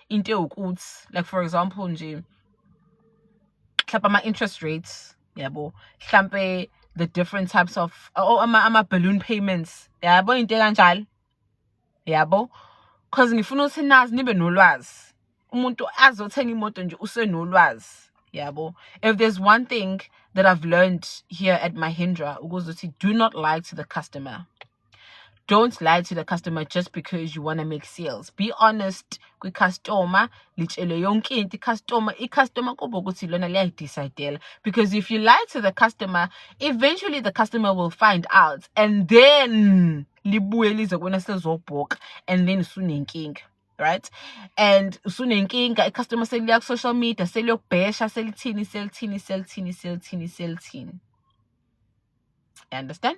into ewukuthi like for example nje mhlawumbe ama-interest rates yabo mhlampe the different types of oh, ama, ama balloon payments yabo into kanjalo yabo because ngifuna ukuthi nazi nibe nolwazi umuntu azothenga imoto nje usenolwazi yabo if there's one thing that i've learned here at mahindra ukuthi do not lie to the customer don't lie to the customer just because you want to make sales be honest kwi-customer litshele yonke into i-customer i-customer kuba ukuthi lona liyayidecidela because if you lie to the customer eventually the customer will find out and then libuye lize kuwena selizobhoka and then usunenkinga right and usunenkinga i-customer seliya ku-social media seliyokubhesha selithini selithini selithini selithini selithini you understand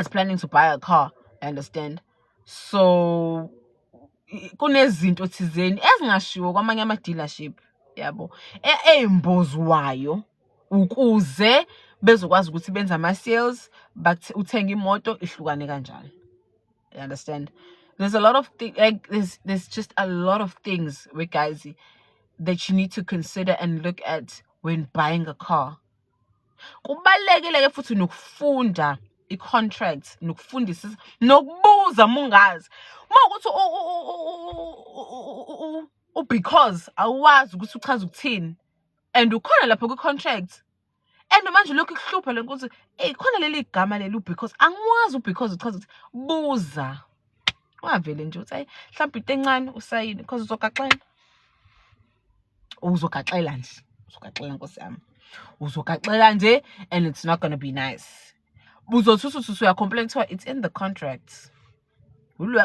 is planning to buy a car I understand so kunezinto thizeni ezingashiwo kwamanye ama dealership yabo eyimbozi wayo ukuze bezokwazi ukuthi benze ama sales uthenge imoto ihlukane kanjani you understand there's a lot of things like there's there's just a lot of things we guys that you need to consider and look at when buying a car kubalekile ke futhi nokufunda i-contract nokufundisa nokubuza mungazi uma ukuthi u-because awazi ukuthi uchaza ukuthini and ukhona lapho kwi-contract and manje lokhu kuhlupha le nkosi eyi khona leli gama leli u-because angiwazi u-because uchaza ukuthi buza ungavele nje uthi ayi mhlawumbe into encane usayini because uzogaxela uzogaxela nje uzogaxela nkosi yami uzogaxela nje and it's not gonna be nice buzothi usuthi uyacomplain kuthiwa it's in the contract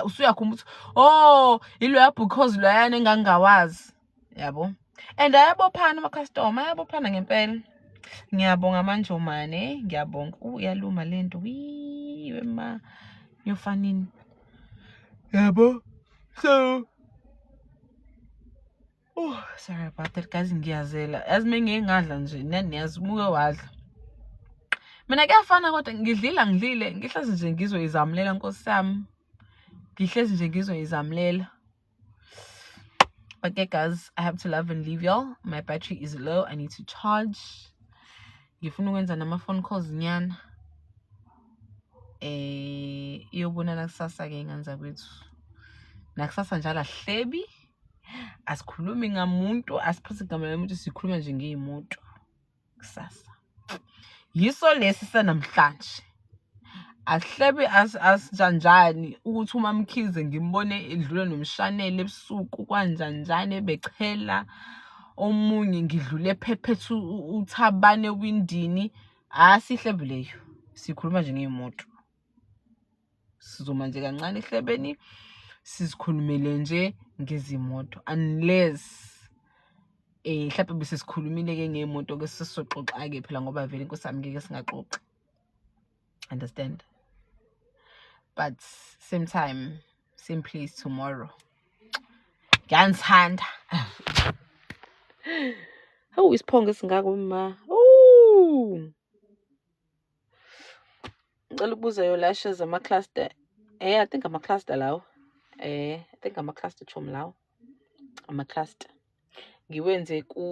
usuyakhumba ukuthi oh iloya because loyana engangingawazi yabo and ayabophana amakhastoma ayabophana ngempela ngiyabonga manjomane ngiyabonga uyaluma le nto wiwe ma yofanini yabo so Oh, sorry about that guys ngiyazela yazi uma ngike ngadla nje nani yazi umuke wadla mina kuyafana kodwa ngidlile angidlile ngihlezi nje ngizoyizamulela nkosi yami ngihlezi nje ngizoyizamulela okay guys i have to love and leave y'all my battery is low i need to charge ngifuna ukwenza nama-phone calls nyana eh iyobonana kusasa ke ingane zakwethu nakusasa njalo ahlebi asikhulumi ngamuntu asiphathi igama lomuntu sikhuluma nje ngeyimoto kusasa yiso lesi sanamhlanje Asihlebe asijanjani ukuthi uMaMkhize ngimbone edlula nomshanelo ebusuku kwanjanjani ebechela omunye ngidlule ephephetha uThabani ewindini. Asihlebe leyo, sikhuluma nje ngey'moto. Sizoma nje kancane ehlebeni sizikhulumele nje ngezimoto unless um mhlawumpe bese sikhulumile-ke ngey'moto-ke sesoxoxa-ke phela ngoba vele nkosi yami ngeke singaxoxi. understand but same time same place tomorrow ngiyangithanda hawu isiphongo esingako ma ngicela ukubuza yo lashes ama-cluster eh i think ama-cluster lawo eh i think ama-cluster chom lawo ama-cluster ngiwenze ku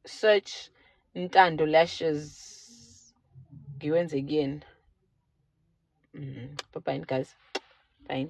search Ntando Lashes ngiwenze kuyena mm, bye bye guys bye